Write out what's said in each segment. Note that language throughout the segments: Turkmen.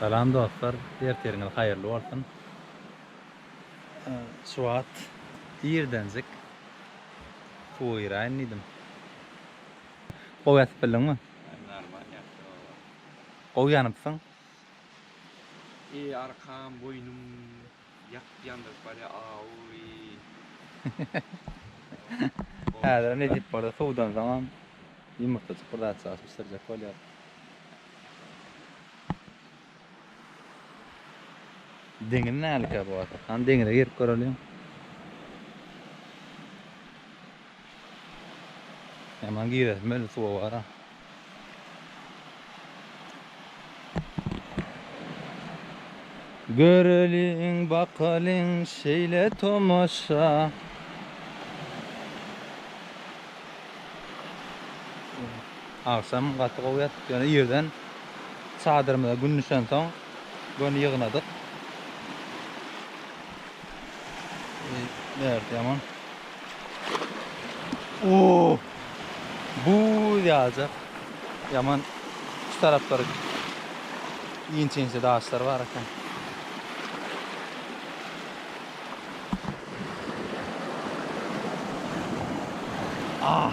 Salam dostlar ertiriňiz haýyrly bolsun şu wagt irdenjik suwa giraýyn diýdim gowy ýatyp bildiňmi? Gowy ýanypsyň. Eý arkam boýnum ýakyp ýandyryp barýa aoýy. Häzirem ne diýip bolýar suwdan soňam ýumurtjajyk bir zat çalyşyp bişirjek bolýar. Deňiz nälikä bu wagta? Hany deňize girip göreliň. Hemen girelim öyle suva vara. Göreliň bakalyň şeyle tomaşa. Akşam gaty gowy ýatdyk ýöne ýerden çadyrymyza gün düşen soň göni ýygnadyk. Bert ýaman. Oo. Bu ýaja ýaman şu taraplary inçe-inçe daşlar bar eken. Ah.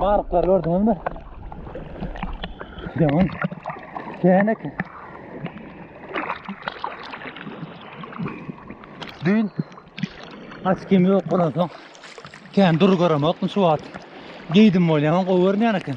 Barıklar gördüňiz mi? Devam. Kenek. Dün aç kim yok olansoň. Ken dur göremokdum şu wagt. Giydim bolýan gowy görünýän eken.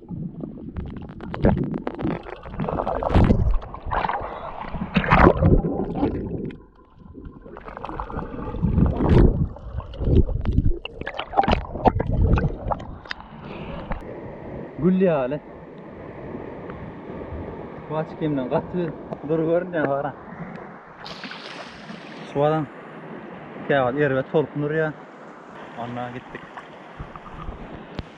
Gül ýaly. Bu açyk gemden gaty dur görünýär bara. Suwadan käwagt erbet tolkun urýar. Ondan gitdik.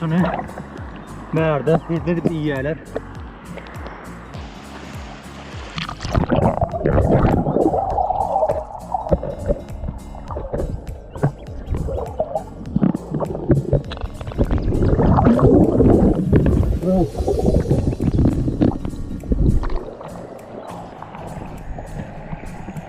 Şunu bärde hizmet edip iýýärler.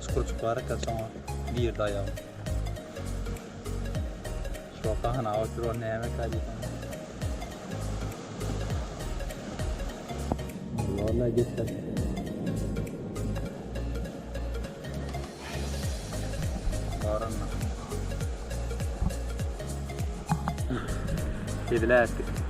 Çukurjyk bar eken soňa girdi aýagym. Şu gahana otur ol nämeka diýdim. Vallahi geçer. Barana. Edil ätdi.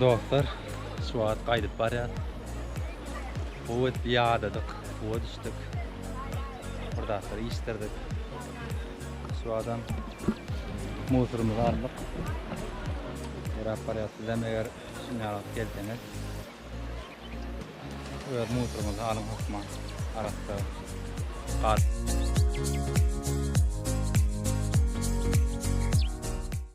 Dostlar, şu wagt gaýdyp barýar. Bu wagt ýadadyk, bu wagt düşdük. Burdaklar işdirdik. Şu adam musurumyzy aldyk. Ýöräp barýar. Sizem eger şuňa gelseňiz, Öz musuryňyzy alyň hökman arassa gal.